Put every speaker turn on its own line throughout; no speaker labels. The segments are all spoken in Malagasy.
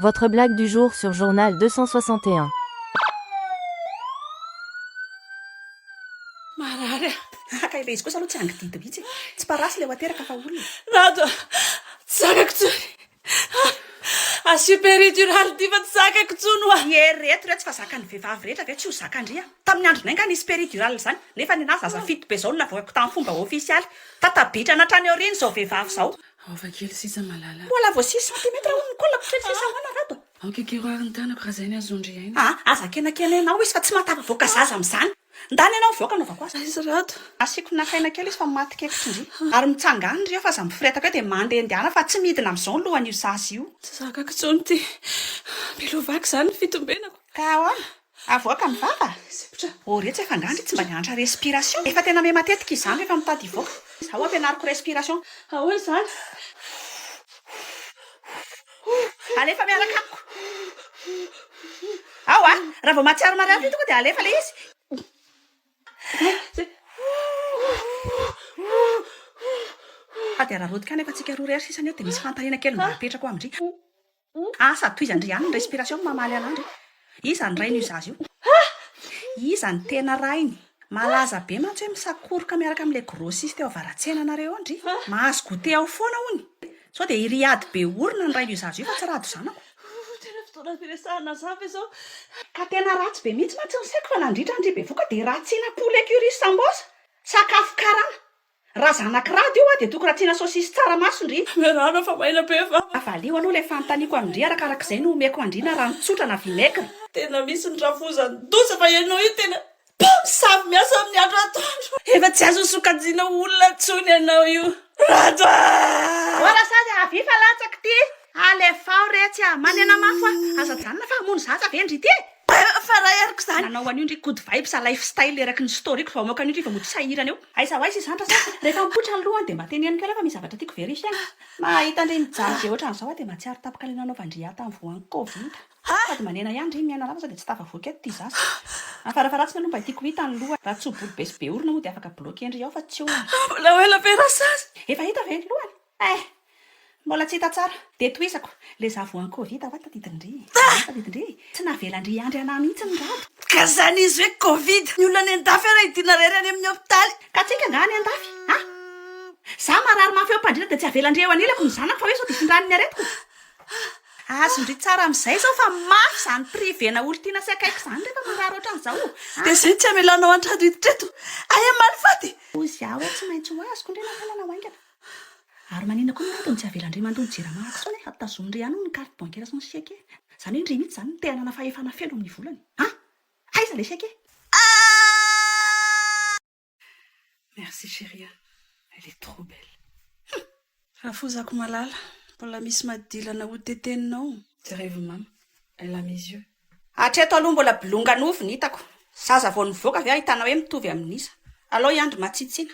Votre blague du jour sur journal deux cent soixante
et un. Marary aho. Haka ilay izy kosa aloha tsy hangididy mihitsy e. Tsy parasy ilay ho ateraka fa olona. Rado a!
Tsy zakako intsony a! Asio péridurale ity fa tsy zakako intsony oa! Ny hery rehetra ireo tsy fa zakan'ny
vehivavy rehetra ve tsy ho zakan-dry a! Tamin'ny andronay angaha nisy péridurale izany nefa ny anah zaza fito be izao no navoakako tamin'ny fomba ofisialy. Tatabitrana hatrany aoriana izao vehivavy izao. Aoka kely sisa
malala. Koa lavo six centimètres
hono ny kolako kely sisa ahoana Rado a? Aoka kero ary ny tanako
raha zay ny azondry aina. Aa aza akenakenena ao
izy fa tsy mahatafavoaka zaza amzany. Ndany ianao mivoaka anaovako azy. Aiza Rado? Asiako
nakaina kely
izy fa maty kekotry ndry. Ary mitsanga any ry aho fa aza miforetaka eo dia mandehandehanana fa tsy midina amzao ny lohan'io zaza io. Tsy zakako intsony ity.
Mby lovaka izany ny fitombenako. Ka ahoana?
Havoaka ny vava? Ô retsy efa angah ndry tsy mba niantra respiration? Efa tena me matetika izany rehefa mitady hivoaka. Izaho ampianariko respiration. Ahoana izany? Alefa miaraka amiko. Ao a! Raha vao mahatsiaro marary ny toko dia alefa ilay izy. Fa dia raha roa dika nefa antsika roa irery sisa anie dia misy fanontaniana kely mba hapetrako amin-dry. Asa tohizan-dry ihany ny respiration ny mamaly an'andry hoe, iza no rain'io zaza io? Iza no tena rainy? Malaza be mantsy hoe misakoroka miaraka amin'ilay grossiste eo avaratsena anareo eo ndry! Mahazo goûter ao foana hono! Sao dia i Riyad be orona no rain'io zaza io fa tsy Rado zanako! Ohh tena fotoana
firesahana za ve zao ah! Ka tena
ratsy be mihitsy mantsy ny saiko fa nandritra ny Ribevoka dia ratsiana poulet curry sy sambosa! Sakafo karana! Raha zanaky Rado io a dia tokony asiana saucisse tsara maso ndry. Amy rano fa maina be
va? Valio aloha ilay fanontaniako
an-dry arakarak'izay no omeko an-dry na rano tsotra na vinaigre. Tena misy ny
rafozan-doza fa ianao io tena mpamosavy miasa amin'ny andro atoandro. Efa tsy azo sokajiana ho olona intsony ianao io Rado ah! Voilà
sazy avy efa latsaka ity. Alefao re tsy a manena mafy a! Aza ajanona fa hamono zaza ve ndry ity e! Fa raha eriko
izany. Nanao an'io ndry Good vibes
a life style eraky ny story-ko vao mamoaka an'io ndry vao mody sahirana eo. Aiza ho aiza izany ra zah? Rehefa mipoitra ny lohany dia mba teneniko ialahy fa misy zavatra tiako verifiena. Mahita an'ireny mijaly be ohatran'izao aho dia mahatsiaro tapaka ilay nanaovan-dry ahy tamin'ny voan'ny covid. Sady manena ihany ry miaina lava sao dia tsy tafavoaka eto ity zaza. Raha farafaharatsiny aloha mba tiako ho hita ny lohany. Raha tso-bolo be sy be orona moa dia afaka bloquer-ndry ao fa tsy olona. Mbola ho ela be ra
zaza? Efa hita ve ny lohany?
Hey! Mbola tsy hita tsara. Dia tohizako, le za voan covid va tadidin-dry? Za tadidin-dry? Tsy navelan-dry hiandry anah mihitsy ny rad. Ka zany izy hoe
covid. Ny olona any an-dafy ary hidina irery any amin'ny hopitaly. Ka tsika angaha any an-dafy
a? Za marary mafy eo am-pandriana dia tsy avelan-dry eo anilako ny zanako fa hoe sao dia findrany ny aretiko. Azon-dry tsara amin'izay izao fa mafy izany privé-na olon-tiana sy akaiky izany rehefa marary ohatran'izao a! Dia izay no tsy amelanao
an-trano hiditra eto? Hay am-alifaty! Hoy za hoe tsy
maintsy ho azoko indray na tena na ho haingana. Ary maninona koa ny antony tsy avelan-dRiamandona Jirama ratsy foana e, fa tazomin-dry ihany hono ny carte bancaire sy ny chèque e. Izany hoe ny ry mihitsy izany no te hanana fahefana feno amin'ny volany. An! Aiza ilay chèque e?
Merci chérie a, elle est trop belle. Hum! Rafozako malala, mbola misy madilana ho teteninao. Jerevo mama, elle a mes yeux. Hatreto aloha mbola
bilongan'ovy ny hitako. Zaza vao nivoaka ve ahitana hoe mitovy amin'isa. Alao hiandry matsitsiana.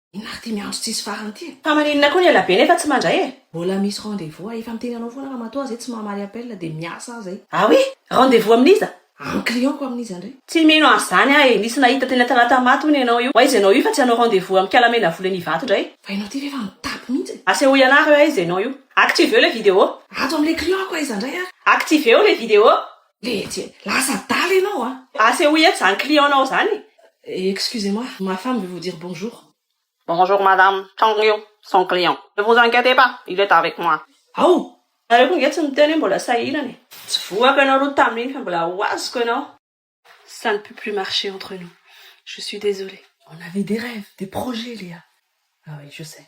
Inona ty ny andro
tsisy farany ty e? Fa maninona koa ny ela be
nefa tsy mandray e? Mbola misy rendez vous
a efa miteny anao foana ramatoa zay tsy mamaly appel dia miasa aho zay. Ah oui? Rendez vous
amin'iza? Amin'ny client ko
amin'iza indray? Tsy mino an'izany
aho e! Nisy nahita teny Talata maty hono ianao io. Aiza ianao io fa tsy hanao rendez vous amin'Ikala Menavolo eny Ivato indray? Fa ianao ty ve efa mitapy
mihitsy e! Asehoy anah hoe aiza
ianao io. Active eo le video. Ato amin'ilay client ko
aiza indray ary? Active eo le video.
Dia tsy
lasa adala ianao a! Asehoy eto izany
client nao izany e! Excusez moi,
ma femme veut vous dire bonjour. Bonjour
madame, trangno io, son client. Ne vous inquietez pas, il est avec moi. Ao! Nareo
koa nge tsy
miteny hoe mbola sahirana e! Tsy voako ianao roa tamin'iny fa mbola ho azoko ianao. Ça ne peut plus marcher entre nous. Je suis désolée. On avait des rêves,
des projets Léa. Ah oui, je sais.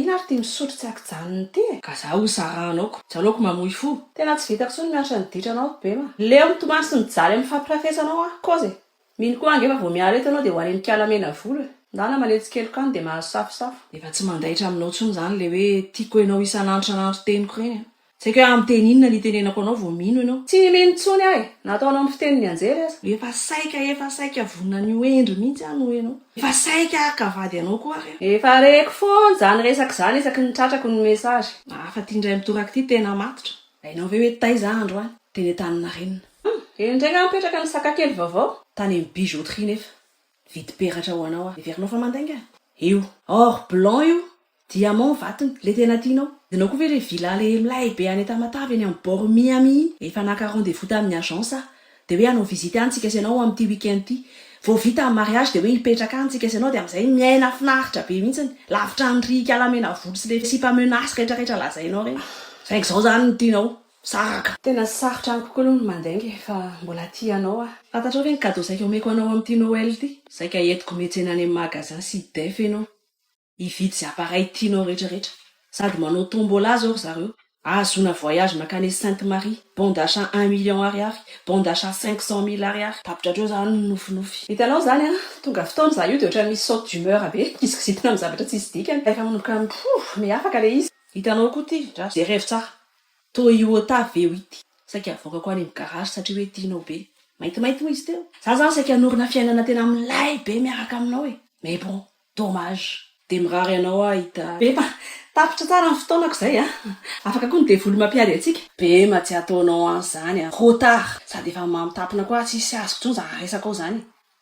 Ino ary ty misotro tsy akijanony ty e. Ka za osa rano aoko. Tsy aleoko mamoy fo. Tena tsy vitako tsony miantra ny ditra anao be ma. Leo mitomany sy mijaly amin'ny fampirafesanao aho koz e! Mino koa ange fa vao miala eto ianao dia ho any amin'Ikala mena vola e! Ndana manetsy keloka any dia mahazo safosafo. Efa tsy mandaitra aminao tsony zany le hoe tiako enao isan'andro isan'andro teniko reny a! Tsy haiko hoe miteny inona ny itenenako anao vao mino ianao. Tsy mino intsony aho e! Na ataonao amin'ny fitenin'ny anjely aza. Efa saika efa saika vonona ny ho hendry mihitsy aho noho ianao. Efa saika haka vady anao koa ary aho. Efa reko foana izany resaka izany isaky ny tratrako ny message. Hafa ity indray mitoraka ity tena matotra. Hainao ve hoe taiza aho androany? Teny Antaninarenina. Hum! Endrey nga mipetraka ny sakakely vaovao? Tany amin'ny bijouterie nefa. Mividy peratra ho anao aho. Heverinao fa mandainga? Io. Or blanc io, diamant vatony, le tena tianao. Dinao koa ve le villa alehelo milay be any Tamatave eny amin'ny bord Miami iny? Efa naka rendez-vous tamin'ny agence aho. Dia hoe hanao visite any tsika sy ianao amin'ity week-end ity. Vao vita ny mariage dia hoe hipetraka any tsika sy ianao dia amin'izay miaina finaritra be mihitsiny. Lavitra an'ry ikala menavolo sy le sipa menace retraretra lazainao ireny. Saingy izao izany no tianao. Saraka. Tena sarotra amiko koa aloha ny mandainga e fa mbola tia anao aho. Fantatrao ve ny cadeau saika omeko anao amin'ity Noël ity? Saika entiko mihetsena any amin'ny magasin sy def ianao hividy izay appareil tianao rehetra rehetra. Sady manao tombola izao ry zareo, ahazoana voyage mankany Sainte Marie, bon d'achat un million ariary, bon d'achat cinq cent mille ariary. Tapitrareo izany ny nofinofy. Hitanao izany an, tonga fotoana izaho io dia ohatran'ny misy saute d'humeur be, kizikizitina amin'ny zavatra tsisy dikany, rehefa manomboka mipoa, miafaka ilay izy. Hitanao koa ity, ndra jereo tsara. Toyota ve hoy ty. Saika avoakako any amin'ny garage satria hoe tianao be. Maintimainty moa izy teo. Za zany saika hanorina fiainana tena milay be miaraka aminao e. Mais bon, dommage. Dia mirary anao aho hita. Bema, tapitra tsara ny fotoanako izay a! Afaka koa ny devoly mampiady antsika. Bema, tsy ataonao an'izany a. Trop tard. Sady efa mamitapina koa aho tsisy azoko intsony izany resaka ao izany e.